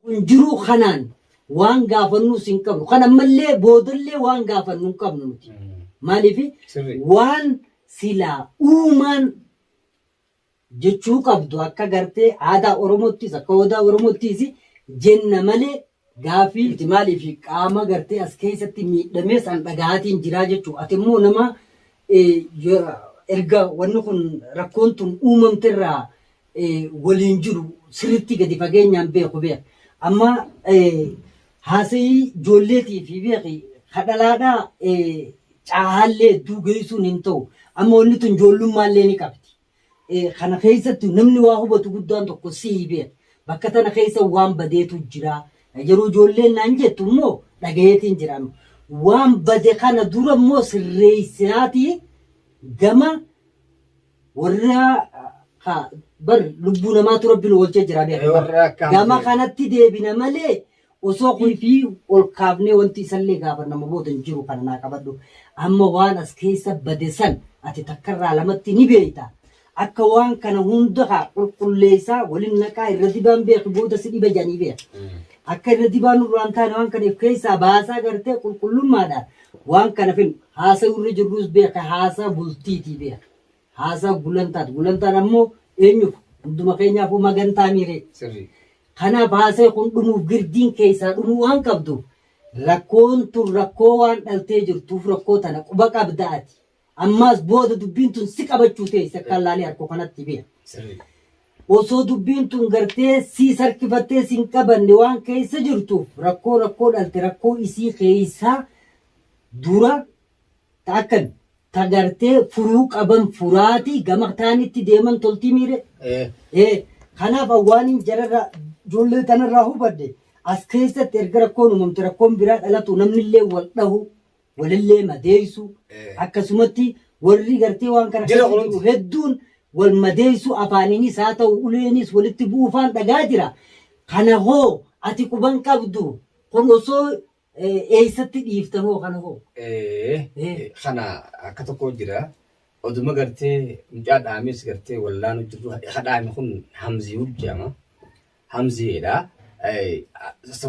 Kun jiruu kanaan waan gaafannuus hin qabnu. Kan ammallee boodallee waan gaafannu hin qabnu nuti. Maaliif waan silaa uumaan jechuu qabdu akka gartee aadaa Oromottis akka odaa Oromottis jenna malee gaafii miti maaliif qaama gartee as keessatti miidhamee san dhagahaatiin jiraa jechuu ati immoo nama erga wanni kun rakkoon tun uumamterraa waliin jiru sirritti gadi fageenyaan beeku beeki amma haasayii joolleetiifi beeki ka dhalaadhaa caahaallee hedduu geessuun hin ta'u amma wanni tun joollummaallee ni qabdi kana keessatti namni waa hubatu guddaan tokko sihi beeki bakka tana keessa waan badeetu jira yeroo joolleen naan jettu immoo dhagayeetiin jira amma waan bade kana dura immoo sirreessinaatii gama warra ka bar lubbuu namaatu rabbi nu oolchee jira beeka Ee, warra akka gama hamzee. kanatti deebina malee osoo kun fi ol kaafnee wanti isallee gaafa nama booda hin jiru kana naa qabadhu amma waan as keessa bade san ati takkarraa lamatti ni beeyta akka waan kana hunda haa qulqulleessaa waliin naqaa irra dibaan beeku booda si dhiba jedhanii beeka akka irra dibaan nurraan taane waan kana if keessaa baasaa gartee qulqullummaadhaan Waan kana fedhu haasa'uu irra jirrus beeka haasaa bultiitii beeka. Haasaa gulantaati. Gulantaan ammoo eenyuuf hunduma keenyaafuu magantaa miiree. Sirrii. Kanaaf haasee kun dhumuuf girdiin keessaa dhumuu waan qabduuf rakkoon tun rakkoo waan dhaltee jirtuuf rakkoo tana quba qabda ati. Ammaas booda dubbiin tun si qabachuu tee isa kan laalee harko kanatti biya. Osoo dubbiin tun gartee sii sarkifattee sin qabanne waan keessa jirtuuf rakkoo rakkoo dhalte rakkoo isii keessaa dura ta akkan ta gartee furuu qaban furaati gama taanitti deeman toltii miire. Ee kanaaf an waanin jararra ijoollee tanarraa hubadhe as keessatti erga rakkoon uumamte rakkoon biraa dhalatu namnillee wal dhahu walillee madeeysuu Ee. akkasumatti warri gartee waan kana Jira keessa jiru kunuunsi. hedduun wal madeeysuu afaaniinis haa ta'u uleeniis walitti bu'uufaan dhagaa jira kana hoo ati quban qabdu kun osoo eh, eeysatti dhiiftan hoo kana hoo Ee, Ee. kana akka tokko jira oduma gartee mucaa dhaames gartee wallaanu jirru ha dhaame kun hamziyuu jedhama hamzeedha.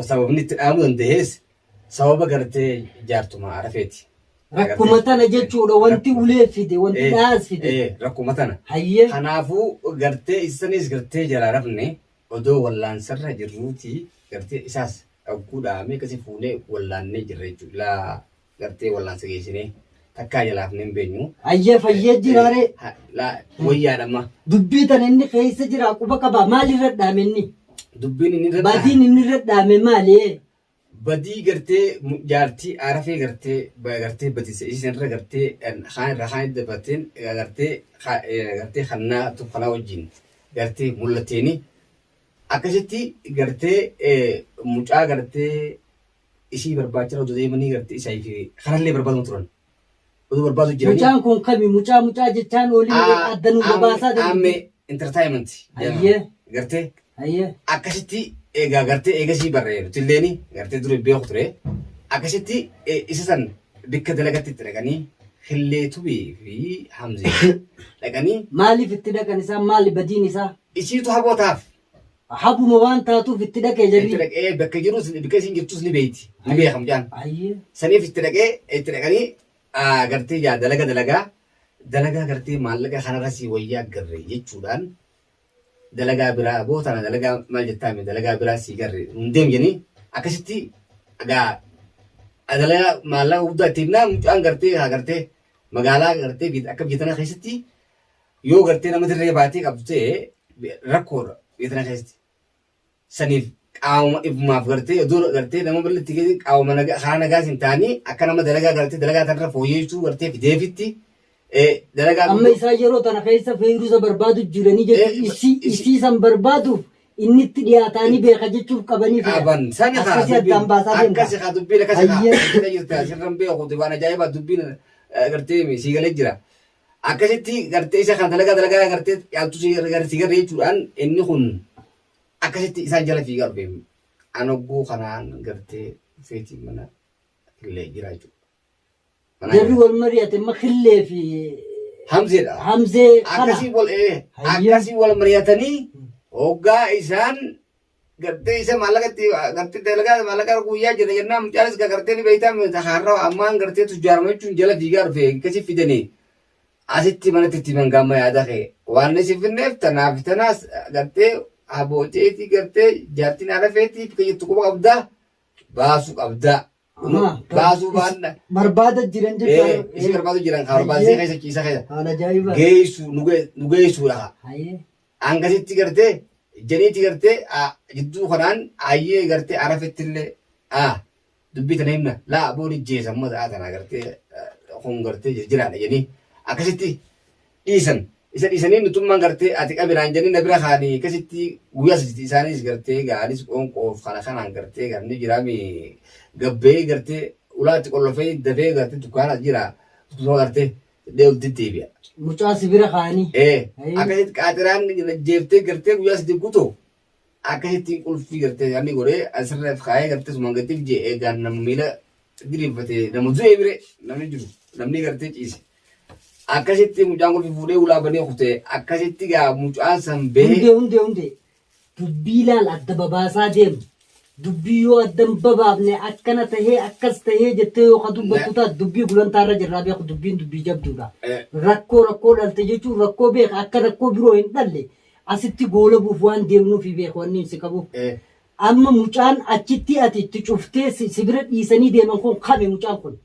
Sababni itti dhaamuu danda'es sababa gartee jaartuma arafeeti. Rakkuma tana jechuudha wanti ulee fide wanti dhaas fide. Rakkuma tana. Hayyee. Kanaafuu gartee isanis gartee jalaa rafne odoo wallaansarra jirruuti gartee isaas dhagguu dhaamee akkasii fuunee wallaannee jirra jechuudha. gartee wallaansa geessinee takkaa jalaa hafnee hin beenyu. Ayyee fayyee jiraa ree. Ha- laa- Wayyaadha amma Dubbii tan inni keessa jira quba qaba maal irra dhaame inni? dubbiin inni irra Badiin inni irra dhaame maali? badii gartee mu- jaartii arafee gartee ba- gartee badise isheen irra gartee kan kaan irraa kaan itti dabateen eh, gartee ka- eh, gartee kannaa tokkolaa wajjin gartee mul'ateeni akkasitti gartee eh, mucaa gartee isii barbaachara odo deemanii garte isa fi kanallee barbaaduma turan odo barbaadu jiranii Mucaan kun kami mucaa mucaa jechaan oolii Ah, adda nu am- gabaasaa amme dandeetti. entertainment jedhama. Ayyee. gartee Ayyee. akkasitti egaa gartee eegasii barree nutilleen gartee dura beeku ture akkasitti eh, isa san bikka dalagatti itti dhaqanii hillee tubii fi hamzee dhaqanii Maaliif itti dhaqan isaa maali badiin isaa? isiitu habootaaf Habuma waan taatuuf itti dhaqee jedhi. Itti dhaqee bakka jirus bakka isin jirtus ni beeyti. Ni beeka mucaan. Ayyee. Saniif itti dhaqee itti dhaqanii gartee yaa dalaga dalagaa dalagaa gartee maallaqa kanarra sii wayyaa garre jechuudhaan dalagaa biraa aboo tana dalagaa maal jettaame dalagaa biraa sii garre nun deem jedhanii akkasitti egaa dalagaa maallaqa guddaa itti himnaa mucaan gartee haa gartee magaalaa gartee akka biyya tanaa keessatti Yoo gartee nama dirree baatee qabdu ta'e rakkoodha biyya tana keessatti. Saniif qaama ifumaaf gartee oduu gartee nama bal'atti keessi qaama nagaa karaa nagaas hin taanii akka nama dalagaa gartee dalagaa tanarra fooyyessuu gartee fideefitti eh, dalagaa Amma guddoo- isaa yeroo tana keessa feeyrusa barbaadu jiranii Eh, jechuun isii isi- isii san barbaaduuf inni itti dhiyaataanii beeka jechuuf qabanii fedha. qaban sani kaa Akkasii addaan baasaa dubbiin deemta. akkasi kaa dubbiin akkasi kaa Hayyee. jira jirta sirran beeku waan ajaa'ibaa dubbiin eh, gartee mi sii galee jira akkasitti gartee isa kana dalagaa dalagaa gartee caaltu si garre si garre jechuudhaan inni kun akkasitti isaan jala fiigaa dhufe anogguu kanaan gartee feetii mana illee jira jechuudha. Manaa Jarri jira. wal mari'ate amma killee fi Hamzeedha. hamzee kana. akkasii wal ee, Hayyee. akkasii wal mari'atanii hoggaa isaan gartee isa maallaqa itti gartee dalagaa maallaqa irra guyyaa jira jennaan mucaanis ka gartee ni beektaa meeta haarra ammaan gartee tujjaarama jechuun jala fiigaa dhufe akkasi fidanii asitti manatti itti himan gaamma yaada kee waan isin finneef tanaaf tanaas gartee abooteetii gartee jaartiin haala feetii bakka jirtu quba qabdaa baasu qabdaa. Amaa. Baasuu baadha. Barbaada jiran Ee, jechuudha. isii barbaadu jiran haa barbaadisee keessa ciisa keessa. Haala ajaa'iba. Geessu nu gee- nu geessuudha. Hayyee. Hangasitti gartee janiitti gartee aa, jidduu kanaan ayyee gartee arafetti illee aa dubbii tana himna laa booni jeesa amma sa'a tana gartee aa, kun gartee jijjiraadha janii akkasitti dhiisan isa dhiisanii nutummaan gartee ati qabi naan jennee na bira kaanii akkasitti guyyaa saditi isaanis gartee gaa anis qoonqoof kana kanaan gartee gaa ni jiraami gabbee gartee ulaatti qollofee dafee gartee dukkaanaas jira akkasuma gartee dhee ol deddeebi'a. Mucaa si bira kaanii. Ee Ayii. akkasitti qaaxiraan jeeftee gartee guyyaa sadii guutuu akkasitti qulfii gartee namni godhee asirra kaayee gartee sumaan gadi fijee eegaan nama miila diriirfate nama du'ee bire namni jiru namni gartee ciise. Akkasitti mucaan qulfii fuudhee ulaa banee kutee akkasitti gaa mucaan san bee Hundee hundee hundee dubbii ilaal adda babaasaa deemu. Dubbii yoo adda hin babaafne akkana tahee akkas tahee jettee yoo ka dubbattu Na- taate dubbii gulantaarra jirraa beeku dubbiin dubbii jabduudha. Eh. Rakkoo rakkoo dhalte jechuun rakkoo beeka akka rakkoo biroo hin dhalle Asitti goolabuuf waan deemnuufi beeka wanni inni si qabu. Amma mucaan achitti ati itti cuftee si bira dhiisanii deeman kun kami mucaan kun?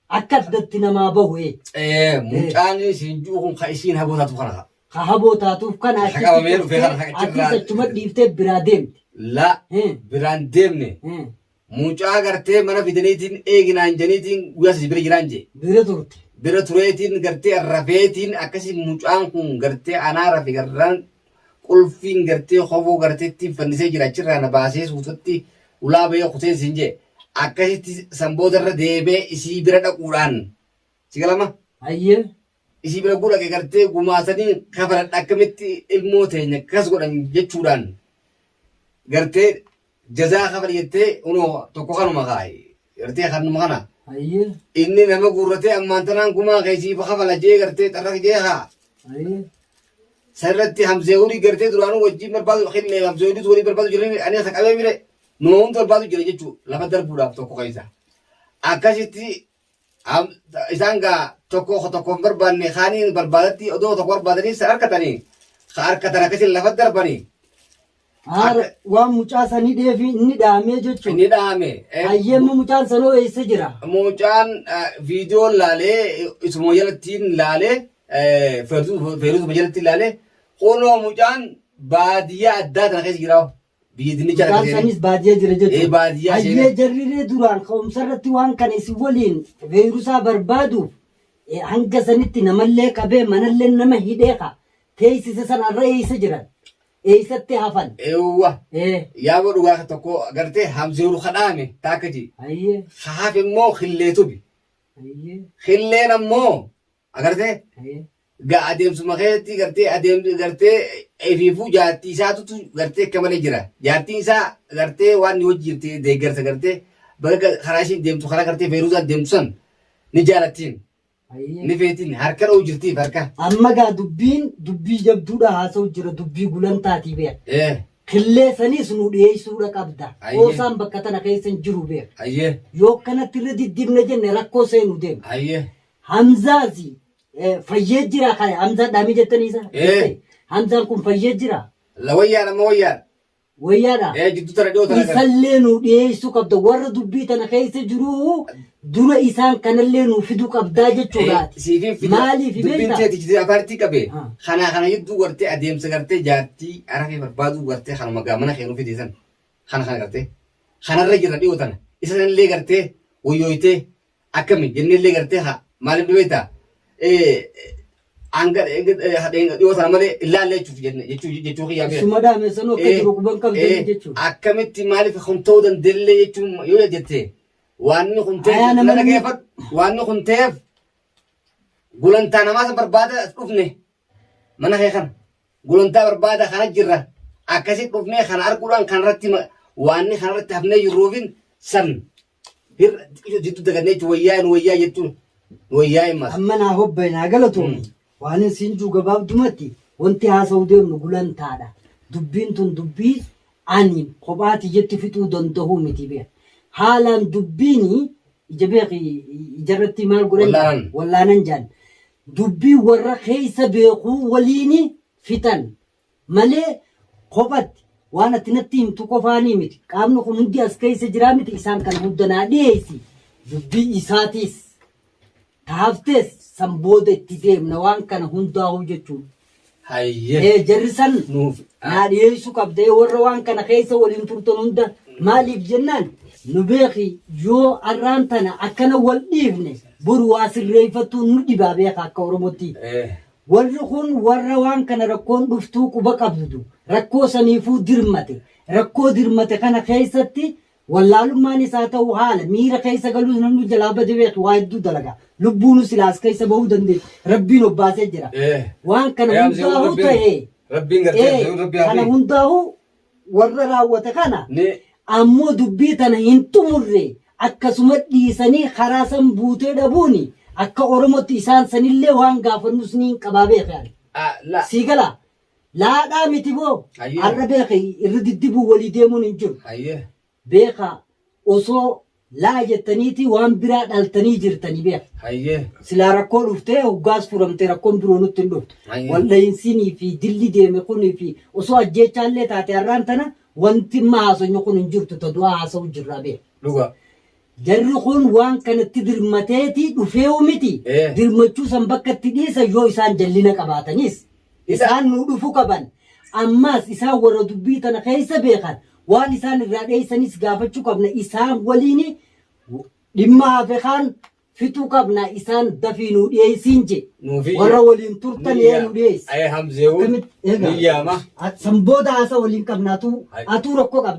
Akka addatti namaa bahu ee. Ee mucaan siin ji'u kun ka isiin haboo taatu kana ka. Ka haboo taatuuf kana achitti cuftee atis achuma dhiiftee biraa deemte. La biraan deemne Mucaa gartee mana fidaniitiin eegi naan janiitiin guyyaa sadi bira jiraan jee. Bira turte. Bira tureetiin gartee rafeetiin akkasi mucaan kun gartee anaa rafe garraan qulfiin gartee kofoo gartee ittiin fannisee jira achirraa na baasee suutatti ulaa bahee kuteen siin jee. Akkasitti san boodarra deebee isii bira dhaquudhaan. Si galama? Hayyee. isii bira gura gagartee gumaasanii kafaradha akkamitti ilmoo teenya kas godhan jechuudhaan gartee jazaa kafal jettee unoo tokko kanuma kaa'i gartee kanuma kana Ayi. inni nama guurratee ammaan tanaan gumaa keessiif kafala jee gartee xarraq jee haa Ayi. sanirratti hamzee hurii gartee duraanuu wajjin barbaadu killee hamzee huriis walii barbaadu jiran ani isa qabee bire numa hundi barbaadu jira jechuu lafa darbuudhaaf tokko keessa akkasitti Am- isaan gaa tokko tokko hin barbaanne kaaniin barbaadatti odoo tokko barbaadanii san harkatanii ka harkatan akkasiin lafa darbanii Haara waan mucaa sanii dheefi inni dhaamee jechuun. inni dhaame Hayyemma mucaan sanoo eessa jira? mucaan eh, viidiyoo laalee isuma jalattiin laalee eh, feertuu- feertuusuma jalattiin laalee kunoo mucaan baadiyyaa addaa tana keessa jira Biyya dinnichaa Isaan argatee sanis baadiyyaa jira Ee, jechuudha. baadiyyaa Hayyee seenaa. jarriree duraan ka'umsa irratti waan kana isin waliin veerusaa barbaaduuf eh, hanga sanitti namallee qabee manallee nama hidhee ka teessise san arra eeysa jiran eeysatti hafan. Eewwa. Eh, Yaaboo dhugaa ka tokko gartee hamzeeru kadhaame taakkaji. Hayyee Haaf immoo killee tubi. hayyee. Killeen ammoo Agartee? Ga adeemsuma keessatti gartee adeemsi gartee efiifuu jaartii isaatutu gartee akka malee jira. Jaartiin isaa gartee waan ni hojii jirti deeggarsa gartee bakka karaa ishiin deemtu karaa gartee Feeruuzaan deemtu san ni jaalattiin. Ni feetiin harka dha'uu jirtiif harka. Amma gaa dubbiin dubbii jabduudha haasa'u jira dubbii gulantaatii beeka. Eh, Killee saniis nu dhiyeessuudha qabda. Ayyee. Qoosaan bakka tana keessa hin jiru beeka. ayyee, Yoo akkanatti irra diddibne jenne rakkoo seenu deema. ayyee. Hamzaasi eh, fayyee jira kan Hamzaa dhaamii jettanii isa. Eh. Hamzaan kun fayyee jira. La wayyaan amma wayyaan. Wayyaadha. Eh jiddu tana dhiyoo tana gara. Isallee nu dhiyeessuu qabda. Warra dubbii tana keessa jiru dura isaan kanallee nu fiduu qabdaa jechuudhaati. Siifin fida. Maaliif Dubbiin beektaa? teeti jiddu afaaritti qabe. Ah. Kanaa kana jidduu gartee adeemsa gartee jaartii arafee barbaaduu gartee kanuma gaa mana keenuu fideesan. Kana kana gartee. Kanarra jira dhiyoo tana. Isa sanillee gartee wayyooytee Akkami jennellee gartee haa maaliif ni beektaa? Hanga dhiyoo sana malee hin laalle jechuuf jenne jechuu jechuu kiyyaa bira. Suma dhaame sanuu akka jiru quban qabdan jechuun. Akkamitti maaliif kun ta'uu danda'ellee jechuun yoo jettee waanni kun ta'e Ayaa nama namni- dhaggeeffadhu waanni kun ta'eef gulantaa namaa san barbaada as dhufne mana kee kana gulantaa barbaada kana jirra akkasitti dhufnee kana arguudhaan kanarratti ma- waanni kanarratti hafnee jirruufin san Birra xiqqisho jiddu dagannee jechuun wayyaa nu wayyaa jettuun nu wayyaa hin maas. Amma naa hobba'e naa galatoomi. Waanin siin juu gabaabdumatti wanti haasa'uu deemnu gulantaadha. Dubbiin tun dubbii ani kophaa tiyyatti fixuu danda'uu miti beeki. Haalaan dubbiin ija beeki ijarratti maal godhan jedhan? Wallaanan. wallaanan jedhan. Dubbii warra keessa beekuu waliin fixan. malee kophatti, waan ati natti himtu qofaanii miti, qaamni kun hundi as keessa jiraa miti, isaan kana hunda naa dhiheessi, dubbii isaatiis ta haftees san booda itti deemna waan kana hundaahuu jechuun. Hayyee. Ee jarri san Nuuf. naa dhiheessu qabda, ee warra waan kana keessa waliin turtan hunda maaliif jennaan nu beeki yoo arraan tana akkana wal dhiifne boru waa sirreeffachuun nu dhibaa beeka akka Oromootti. Ee. Warri kun warra waan kana rakkoon dhuftuu quba qabdu, rakkoo saniifuu dirmate, rakkoo dirmate kana keessatti wallaalummaanis haa ta'uu haala miira keessa galuus namni jalaa bade beeki waa hedduu dalaga. Lubbuunuu silaa as keessa bahuu dandeetti. Rabbiin obbaasee jira. Waan kana hundaahuu ta'ee kana hundaahuu warra raawwate kana Ni. ammoo dubbii tana hin xumurre akkasuma dhiisanii karaa san buutee dhabuun akka Oromootti isaan sanillee waan gaafannus niin qabaa beeki ani. A, la. Sii galaa? Laadhaa miti boo? Hayyee. Har'a beeki irra diddibuu walii deemuun hin jiru. Hayyee. beekaa osoo laa jettaniitii waan biraa dhaltanii jirtani beeka. Hayyee. Silaa rakkoo dhuftee hoggaas furamtee rakkoon biroo nutti hin dhuftu. Hayyee. Waldhahinsinii fi dilli deeme kunii fi osoo ajjeechaallee taate har'aan tana wanti amma haasonyu kun hin jirtu ta du'aa haasa'u jirraa beeka. Dhugaa. Jarri kun waan kanatti dirmateeti dhufeewu miti, dirmachuu san bakkatti dhiisan yoo isaan jallina qabaatanis, isaan nuu dhufu qaban, ammaas isaan warra dubbii tana keessa beekan, waan isaan irraa dheeysanis gaafachu qabna, isaan waliini dhimma hafe kaan fixu qabna, isaan dafii nuu dhiyeeysiin je'e, warra waliin turtan ee nu dhiyeeysi, akkamitti, eegaa, san booda haasawa waliin qabna, atuu, atuu rakko qabda.